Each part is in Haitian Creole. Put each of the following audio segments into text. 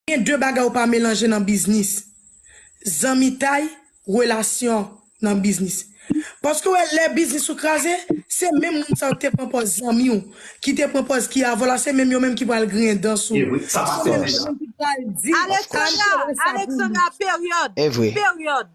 Gen de bagay ou pa melanje nan biznis, zanmitay, relasyon nan biznis. Paske ou wè lè biznis ou kraze, se menm moun sa yo ki te pran pòz zanmi w, ki te pran pòz ki avè w la, se menm yo menm ki pral griyen dan sou ou. Se menm yo menm ki pral di, Alexandra, Alexandra, period, period.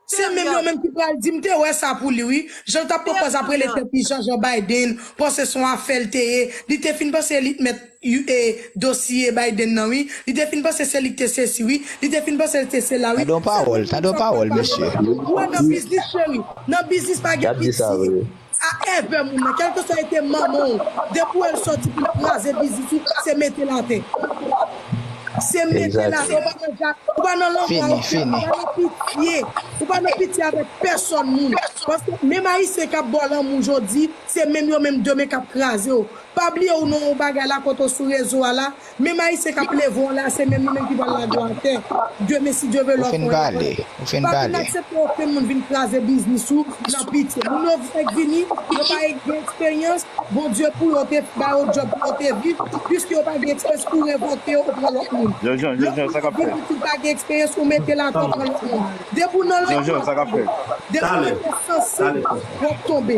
Se menm yo menm ki pral di m te wè sa pou li wi jan l t ap pran pòz ap rele tèt li janjan Biden panse s on afè l te ye li te fin panse li t mèt e dosye Biden nan wi li te fin panse se li k te sesi wi li te fin panse l te sela wi se menm moun sa w t ap pale a ou wè nan biznis cheri nan biznis pa gen piti. Sa ève moun nan kelkeswa ete manman w depi w wè l soti pou l kraze biznis ou se mete l atè se mete l atè ou pa nan jak ou pa nan lanmò a okenn moun ou pa nan pitye ou pa nan pitye avèk pèsòn moun paske menm ayisyen k ap ba w lanmou jodi se menm yo menm demen k ap kraze w pa bliye w nan yon bagay la kote w sou rezo a la Menm ayisyen kap leve w la se menm li menm ki pral lage w atè demen si Dieu veut lòt wè aprè pa vin aksepte okenn moun vin kraze biznis ou nan pitye moun yo fèk vini yo pa gen eksperyans Bondye pou yo te ba yo djòb pou yo te viv piske yo pa gen eksperyans ou revoke yo ou pran lòt moun lòt moun ap vin pitit pa gen eksperyans ou mete l atè w pran lòt moun depi w nan lòt moun ap tonbe depi w gen sansib wap tonbe.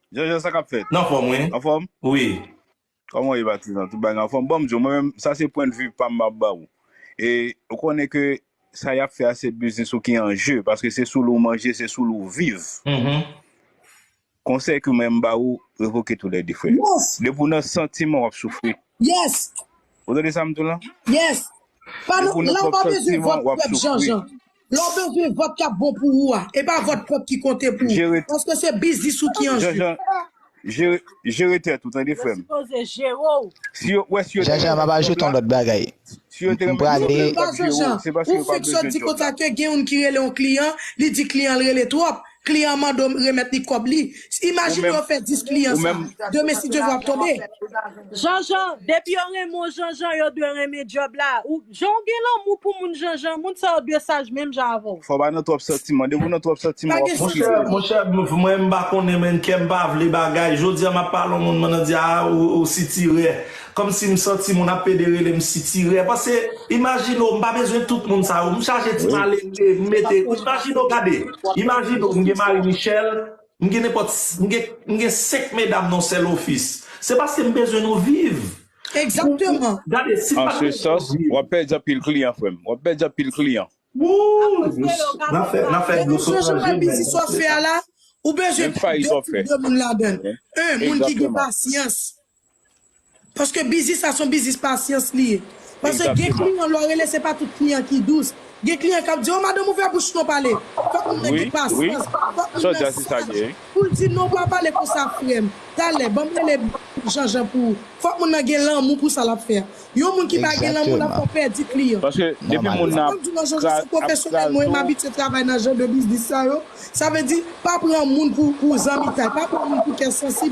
Jean Jean sa kap fèt? Nan fòm wi. Anfòm? Wi. Kòman ou ye patizan? Tout bagay anfòm? Bon m di w, mwen menm sa se pwen de vue pam map ba ou. E ou konnen ke sa yap fè a se biznis ou ki an je paske se sou li w manje, se sou li w viv. Konsèy ke mwen m ba ou, revoke tou lè 2 frè. Depi w nan santiman wap soufri. Ou tande sa m di w lan? Depi w nan pwòp santiman wap soufri. Lè w bezwen vòt k ap bon pou ou a, e pa vòt pèp ki konte pou ou, Jere, paske se biznis ou ki an jwe. Janjan, jere, jere tèt ou tande frè m. Si yo, wè si yo te Janjan renmen papa job jeton la, lòt bagay si yo te m renmen job la prale yo t ap jere w, se paske yo pa bezwen job la. Kote gen youn ki rele yon kliyan, li di kliyan l rele twòp, Kliyan an mande w remèt li kòb li. Imajine yo fè 10 kliyan sa. Demen si Dyevo ap tonbe. Janjan, depi yo renmen w Janjan, yo dwe renmen djòb la. Jan w gen lanmou pou moun Janjan, moun sa yo dwe saj menm jan avè w. Fò w pa nan twòp santiman. Depi w nan twòp santiman, w ap soufri twòp. Monchè, monchè, mwen m pa konnen menn kè m pa vle bagay. Jodi a m ap pale yon moun, m nan di a ou sitirè. Kòmsi m santi moun ap pede rele m sitirè pase imajine w m pa bezwen tout moun sa yo m chaje ti malere m mete imajine w gade imajine w m gen Marie Michelle m gen nenpòt m gen m gen 5 medam nan yon sèl ofis se paske m bezwen nou viv pou m gade si m pa t bezwen nou viv wap pèdi anpil kliyan frè m wap pèdi anpil kliyan. Wouyy nap fè nap fè dlo sot nan je nèg wap fè sa. Menm fayit wap fè. Paske biznis sa son biznis pasyans li ye. Paske gen kliyan lè w rele se pa tout kliyan ki dous. Gen kliyan k ap di w madanm ouvè bouch non pale. Fòk moun nan gen pasyans, fòk moun nan saj pou l di non pa pale konsa frè m. Talè banm rele Janjan pou ou. Fòk moun nan gen lanmou pou sa l ap fè a. Yon moun ki pa gen lanmou l ap fè w pèdi kliyan. Sa m ap di w nan Janjan se pwofesyonèl mwen e m abitye travay nan jan de biznis sa yo. Sa vle di pa pran moun pou zanmitay, pa pran moun pou kè sansib.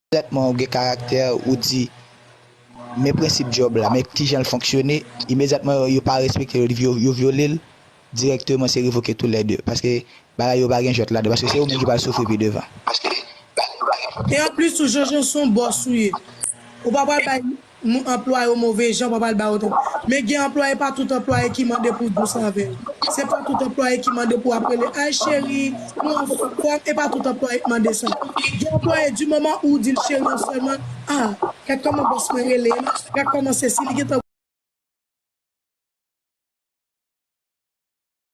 Trètman ou gen karaktè ou di men prensip djòb la men kijan l fonksyone imedyatman yo yo pa respekte l yo vyole l dirèkteman se revoke tou lè 2 paske bagay yo pa gen jwèt ladan paske se ou menm ki pral soufri pi devan. E anplis tou Jean Jean son boss ou ye ou pa pral bay Nou anplwaye yo move jan papa l ba yo tò. Men gen anplwaye pa tout anplwaye ki mande pou w dous avè l. Se pa tout anplwaye ki mande pou w ap rele ay cheri, nou anfòm, kòm e pa tout anplwaye k mande sa. Gen anplwaye di moman ou di l cheri an sèlman, a, gad kòman bòs mwen rele m, gad kòman sesi li gentan.